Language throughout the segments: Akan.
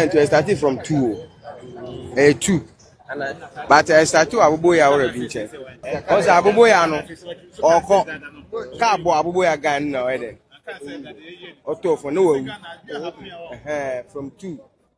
to ɛstarte from two o ɛyɛ eh, two but ɛstarte wɔ aboboyɛ a wɔrɛ bi nkyɛn ɔsɛ aboboyɛ no ɔkɔ kaa bɔ aboboyɛ guy no na ɔyɛ dɛ ɔtɔ fɔ ne wawu from two.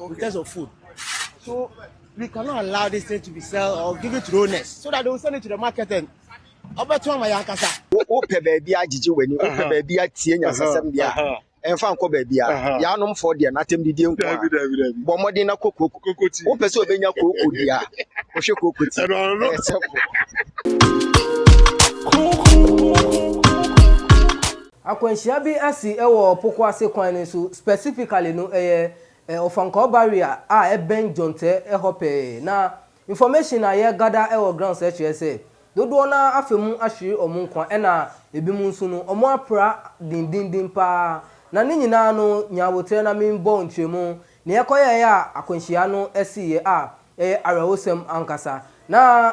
Okay. In terms of food. So we cannot allow this thing to be sold or give it to donors so that they will send it to the market and ɔbɛto ama yɛn ankasa. wopɛ baabi agyegye w'ani wopɛ baabi atie nyasasɛm deɛ a ɛmfa nkɔ baabi a yɛanom fɔ deɛ n'atɛm didie nko a bɔ mmɔden na kɔ kooko wopɛ sɛ obɛnya kooko deɛ a wohwɛ kooko ti ɛsɛ Akwanhyia bi asi wɔ Poko Ase kwan no so, specifically no ɛyɛ Ofankor barrier a ɛbɛn Jonte hɔ pɛɛ, na information a yɛ gather wɔ grounds kyerɛ sɛ dodoɔ no ara afa mu ahwere wɔn nkwa ɛna ɛbinom nso no wɔn apra dendenden paa na ne nyinaa no nya aboterɛ na me bɔ nkyerɛmu nea ɛkɔyɛeɛ a akwanhyia no siiɛ a ɛyɛ awerɛhosɛm ankasa na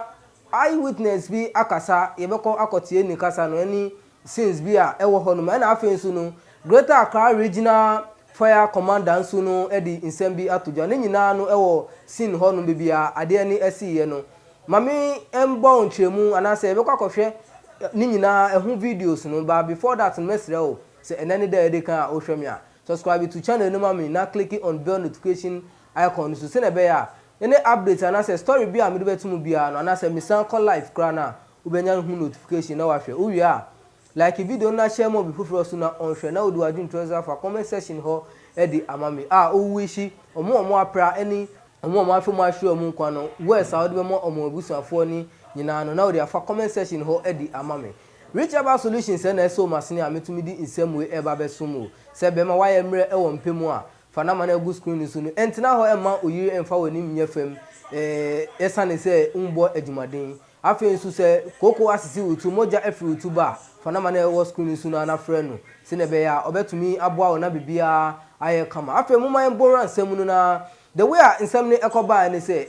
eye witness bi akasa yɛbɛkɔ akɔtie ne kasa no ɛne scenes bi a ɛwɔ hɔ nom ɛna afei nso no Greater Accra Regional Fire Commander nso no de nsɛm bi ato dwa ne nyinaa no ɛwɔ scene hɔ nom baabi a adeɛ no asiiɛ no ma me mbɔ wo nkyerɛmu anaa sɛ yɛbɛkɔ akɔhwɛ ne nyinaa ɛho videos no but before that no mɛsrɛ wo sɛ ɛnɛ ne da a ɛdikan a wohwɛ me a subscribe to channel no ma me na click on bell notification icon no so sɛnea ɛbɛyɛ a any update anaa sɛ story bi a mede bɛto mu biara no anaa sɛ mesan kɔ live koraa no a Wobenya no ho notification na wahwɛ. Wowie a, like video no na share ma obi foforɔ nso na ɔnhwɛ na wode w'adwene to aseɛ afa comment section hɔ de ama me a wo wishi wɔn a wɔapra ne wɔn a wɔafa mu ahyerɛ wɔn nkwa no words a wode bɛma wɔn abusuafoɔ no nyinaa no na wode afa comment section hɔ de ama me. Rich Herbal Solutions sɛ na ɛsoo m'asene a metumi de nsɛm wei reba abɛsom wo. Sɛ bɛrima woayɛ mmerɛ wɔ mpɛ mu a, fa number no a ɛgu screen no so no ntena hɔ mma oyere mmfa w'anim nyɛ fam eh, ɛsane sɛ wommɔ adwumaden. Afei nso sɛ kooko asisi wo ti, mogya afiri wo ti ba a, fa nama no a ɛwɔ screen no so no ara na frɛ no sɛnea ɛbɛyɛ a ɔbɛtumi aboa wo na biribiara ayɛ kama. Afei momma yɛmmɔ nwura nsɛm no na the way a nsɛm no ɛkɔbaeɛ ne sɛ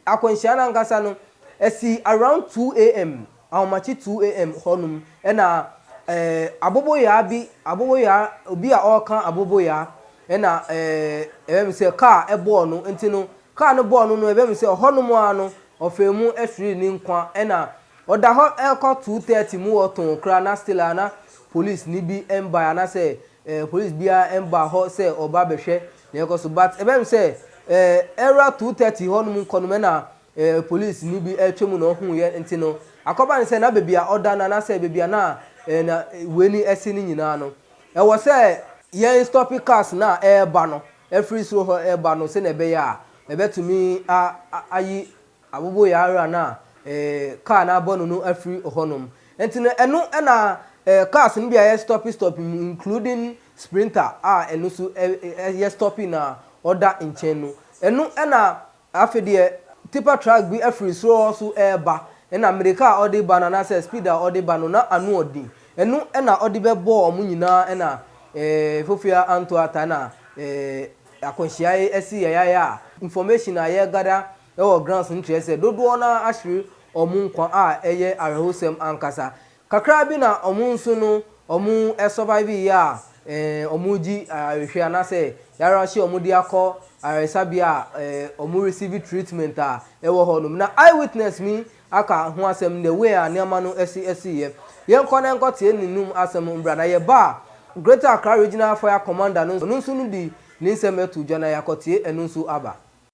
akwanhyia no ankasa no ɛsii around 2am, ahomakye 2am hɔ nom ɛna eh, aboboyaa bi, aboboyaa, obi a ɔreka aboboyaa ɛna eh, ɛbɛm sɛ kaa ɛbɔɔ no nti no Kaa no bɔɔ no no, ɛbɛyɛ me sɛ ɔhɔnom ara no ɔfaa mu hweree ne nkwa. Ɛna ɔda hɔ ɛrekɔ two thirty mu hɔ too koraa na still a na police no bi mbae anaasɛ eh, police biara mbaa hɔ sɛ ɔba abɛhwɛ nea ɛrekɔ so. But ɛbɛyɛ me sɛ eh, ɛwura two thirty hɔnom nkɔ nom ɛna eh, police no bi atwa mu na ɔhuuiɛ nti no, akɔba ne sɛ na baabi a ɔda no anaasɛ baabi a na eh, na wei ni ɛsi no nyinaa no, ɛwɔ sɛ yɛn stopi cars no a ɛreba no. afiri soro hɔ reba no sɛnea ɛbɛyɛ a ɛbɛtumi ayi aboboyaayera no a kaa no abɔ no no afiri hɔnom. Enti no ɛno na cars no bi a ɛyɛ stɔpe stɔpe mu including Sprinter a ɛno nso yɛ stɔpe na ɔda nkyɛn no, ɛno na Afei deɛ tipper truck bi firi soro hɔ nso reba, ɛnna mmirika a ɔde reba no anaasɛ speed a ɔde reba no, na ano yɛ den. Ɛno na ɔde bɛbɔɔ wɔn nyinaa, ɛnna Fofia antɔ ata, ɛnna akwanhyia yi asi yayaya a information a yɛregather wɔ grounds no kyerɛ sɛ dodoɔ no ara ahwere wɔn nkwa a ɛyɛ awerɛhosɛm ankasa. Kakra bi na ɔmo nso no ɔmo survive yɛ a ɔmo gye ayarehwɛ anaasɛ yarahyɛ a ɔmo de akɔ ayaresabea a ɔmo receive treatment a ɛwɔ hɔ nom. Na Eye Witness me aka ho asɛm the way a nneɛma no si si yɛ. Yɛn kɔ na yɛnkɔ tie ne nom asɛm mbra na yɛ ba a Greater Accra Regional Fire Commander no nso no de ne nsɛm to dwa na yɛ akɔ tie ɛno nso aba.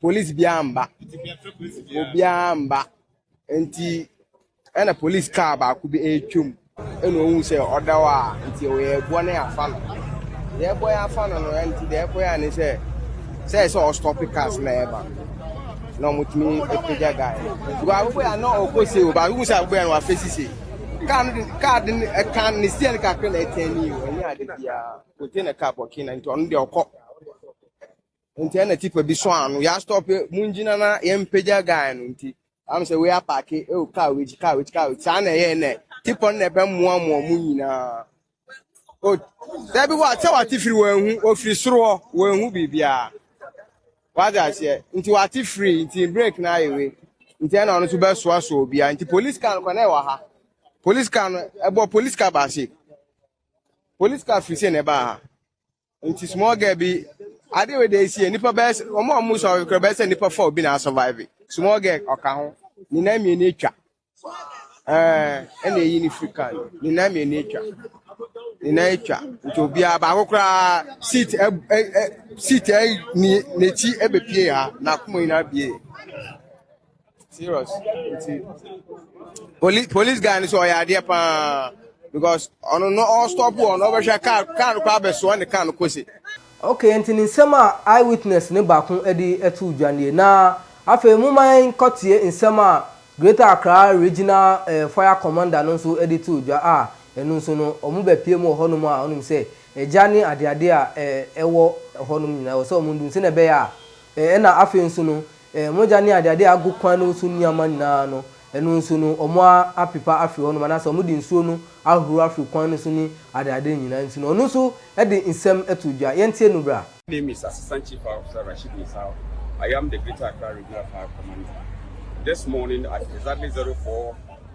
Police biara mba. Obiara mba. Nti ɛna police car baako bi retwam. Ɛna ohun sɛ ɔda hɔ a nti ɔyɛ ɛboɔ no afa no. Deɛ ɛbɔ yɛ afa no no nti deɛ ɛkɔ yɛ ne sɛ sɛ sɛ ɔstɔpe cars na ɛba. Na wɔtumi apagya guy. Because abobɔ yɛ na ɔkɔ se o baako hu sɛ abobɔ yɛ na wafa sise. Car no de car de ɛka ne steer no kakra na ɛtɛn ne yi o. Ɛnyɛ ade biara. Container car bɔkee na nti ɔno deɛ ɔkɔ. nti ɛna tipa bi so ano yɛ astɔpe mu ngyina na yɛn mpagya guy no nti am sɛ wei apaake ɛwɔ e kaa wei kaa wei kaa wei saa na ɛyɛ nɛ tipa no na ɛbɛ mmoa mmoa mu nyinaa o dabi wa sɛ wate firi wɔn ehu ofiri soro hɔ wɔn ehu biribiara wate aseɛ nti wate firi nti break na ayɛ wei nti ɛna ɔno nso bɛsoa soa obiara nti police car no kɔ na ɛwɔ ha police car no ɛbɔ police car baasi police car firi sɛ na ɛbaa ha. nti small girl bi ade wei de esie nipa bɛyɛ sɛ wɔn a wɔn sɔn ɔkura bɛyɛ sɛ nipa fɔ obi na survive small girl ɔka ho ne nan mmienu atwa ɛɛ ɛna eyi ne free car no ne nan mmienu atwa ne nan atwa nti obiara baako koraa seat ɛ ɛ ɛ seat ɛ ni n'akyi ɛbɛpie ha n'akoma nyinaa bie. serious nti police police guy ni sɛ ɔyɛ adeɛ paa because ɔno no ɔstop wɔ no ɔbɛhwɛ car car no kɔ abɛsoa ne car no kɔsi. okay nti ne nsɛm a eye witness ne baako de too dwa nie na afei momma yɛnkɔtie nsɛm a Greater Accra Regional eh, Fire Commander no nso de too dwa a ɛno nso no wɔbɛpie mu wɔ hɔnom a wonim sɛ agya ne adeade a eh, ɛwɔ hɔnom nyinaa ɛwɔ sɛ wɔn dum sɛnea ɛbɛyɛ a eh, ɛna afei nso no Mogya ne adeade a agu kwan no so nneɛma nyinaa no, ɛno nso no, wɔapepa afiri hɔnom, anaasɛ wɔde nsuo no ahoro afiri kwan no so ne adeade no nyinaa nti no, ɔno nso de nsɛm too dwa. Yɛntie no bra. My name is Assistant Chief Fire Officer Rasheed Nsah, I am the Greater Accra Regional Fire Commander. This morning at exactly 04.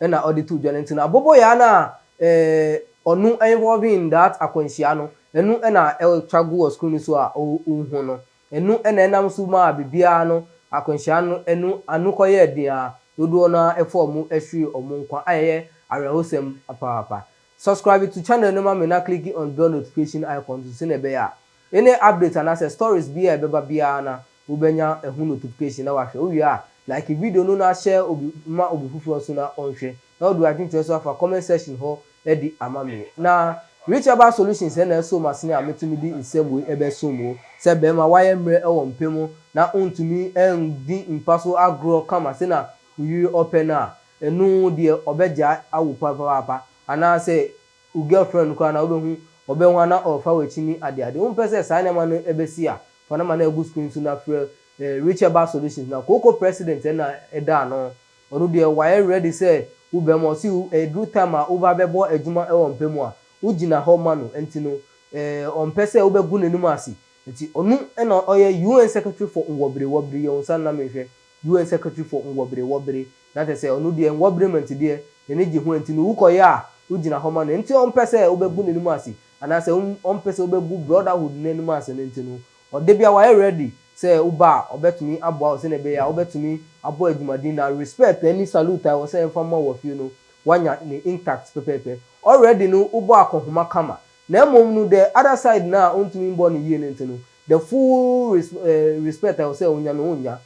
na ɔde too dwa no ntsi no aboboyaa no a ɔno involving in that akwanhyia no ɛno na ɛtra gu wɔ screen no so a ohu no, ɛno na ɛnam so maa biribiara no akwanhyia no ɛno ano kɔyɛɛ den ara dodoɔ no ara faa ɔmo hweree ɔmo nkwa a ɛyɛ awerɛhosɛm papaapa. Subscribe to channel no ma me na click on bell notification icon nso sɛnea ɛbɛyɛ a Any update anasɛ stories bi a ɛbɛba biara na wo bɛnya ɛho notification na wahwɛ. Wo wie a, like video no na share obi ma obi foforɔ nso na ɔnhwɛ. Na wode w'adwenkyerɛ nso afa comment section hɔ adi ama me. Na Rich Herbal Solutions na ɛso m'asene a metumi de nsɛm wei ɛbɛsom wo. Sɛ bɛɛma wayɛ mmerɛ ɛwɔ mpɛ mu na ontumi ɛndi mpa so agorɔ kama sɛ na wo yere ɔpɛ no a, ɛno deɛ ɔbɛgyae awo papaapa. Anaasɛ Wo girlfriend koraa na wobɛhu ɔbɛn hɔ a na ɔrefa w'akyini adeade. Wompɛ sɛ saa nneɛma no bɛsi a, fa no ma no agu screen so na frɛ Richer Bar Solutions na kooko president na ɛda ano. Ɔno deɛ wayɛ ready sɛ wo bɛn ma ɔse ɛduru time a woba bɛbɔ adwuma wɔ mpa mu a, wogyina hɔ ma no nti no ɔmpɛ sɛ wobɛgu n'anim ase. Nti ɔno na ɔyɛ UN Secretary for Nwɔberewɔbere, yɛ wo nsa no na menhwɛ, UN Secretary for Nwɔberewɔbere, Na kyerɛ sɛ ɔno deɛ nwɔberɛ mu ntedeɛ na n'ani gye ho enti no wokɔyɛ a wogyina hɔ ma no nti ɔmpɛ sɛ wobɛbu n'anim ase anaasɛ ɔmpɛ sɛ wobɛbu brotherhood no anim ase no nti no ɔde bia wayɛ ready sɛ woba a ɔbɛtumi aboa wo sɛdeɛ ɛbɛyɛ a wobɛtumi abɔ adwumaden na respect ɛne salute a ɛwɔ sɛ ɛmfa mma wo wɔ fie no woanya no intact pɛpɛɛpɛ. Ɔready no wobɔ akɔnhoma kama na mmom no the other side no a wontumi mmɔ no yie no nti no the full respect a ɛwɔ sɛ wonya no wonnya.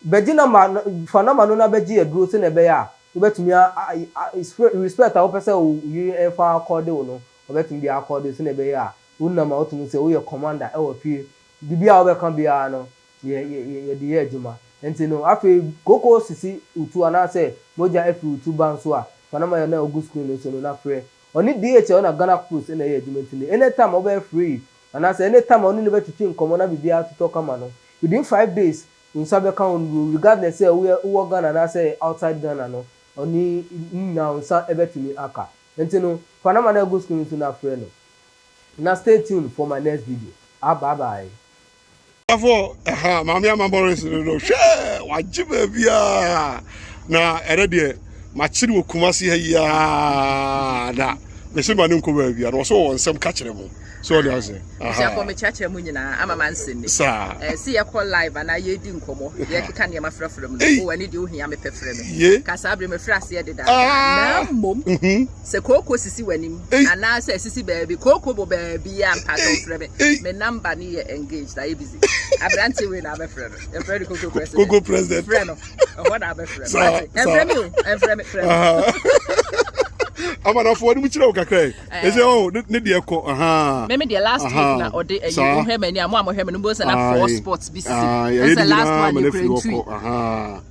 Bɛgye na ma na fa na ma no na bɛgye aduro sɛnea ɛbɛyɛ a wobɛtumi a a a spre respect a wopɛ sɛ wo wo yere mfa akɔɔde wo no ɔbɛtumi de akɔɔde wo sɛnea ɛbɛyɛ a wonam a wote mu sɛ woyɛ commander ɛwɔ fie biribiara a wobɛka biara no yɛ yɛ yɛ yɛde yɛ adwuma nti no afei kooko sisi wo tu anaasɛ mogya afiri wo tu ba nso a fa na ma yɛ na ogu screen no so no na frɛ ɔne DHL na Ghana Post na ɛyɛ adwuma nti no anytime a wobɛyɛ free anaasɛ anytime a wo ne no bɛtwetwe nkɔmmɔ na biribiara atotɔ kama no within five days Wo nsa bɛka ho no bio regardless sɛ woyɛ wowɔ Ghana anaasɛ outside Ghana no ɔne ne nyinaa wo nsa bɛtumi aka nti no fa number no a ɛgu screen so no frɛ no na stay tuned for my next video ah bye bye. Abusuafo ɛha maame ama Morris no no hwɛ wagye baabi aa na ɛnɛ deɛ makyere wɔ Kumasi ha yi aa na mese ma no nkɔ baabi a na ɔse ɔwɔ nsɛm ka kyerɛ mo. so ɔde ase busuafo mekyerɛkyerɛ mu nyinaa ama ma nsɛm mi saa ɛɛ eh, si yɛkɔ live anaa yɛdi nkɔmɔ yɛkeka nneɛma frɛfrɛ mu no wɔ oh, ani deɛ ohia me pɛfrɛ me kasaa bere mefrɛ aseɛ deda ah. na mmom mhm. sɛ kooko sisi w'anim anaa sɛ sisi baabi kooko bɔ baabi a mpatɔ frɛ me me namba ne yɛ engaged ayɛ busy aberante wei na abɛfrɛ no yɛfrɛ no kooko president kooko president frɛ no ɛhɔ na abɛfrɛ no ɛmfrɛ me o ɛmfrɛ me frɛ me amanafoɔ ne mu kyerɛ wo kakra Ɛsɛ eh. oh, ne deɛ kɔ ahaa. Mɛmi deɛ last aha. week na ɔde ɛyi eh, wohwɛ mɛ ni a mo a mo hwɛ mɛ no mo sɛ na four sports bi si. Ɛsɛ last one ni kura ntui.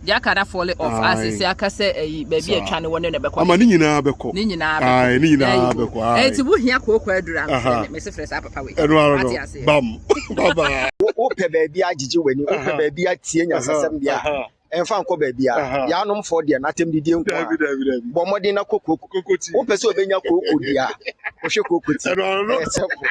Deɛ aka na fall off ase sɛ aka sɛ ɛyi eh, baabi atwa ne wɔne na ɛbɛkɔ. Ama ne nyinaa bɛkɔ. Ne nyinaa bɛkɔ. Ne nyinaa bɛkɔ. Ɛti eh, wo hia kooko aduru a mɛ se fɛ saa papa wei. Ɛnu ara no bam baba. Wo pɛ baabi agyegye w'ani, wo pɛ baabi atie nyasasɛm bia. ɛmfa nkɔ baabiara yaanom fɔ deɛ n'atɛm didie nko a bɔ mmɔden na kɔ kooko wopɛ sɛ obɛnya kooko dua wohwɛ kooko ti ɛyɛ sɛfo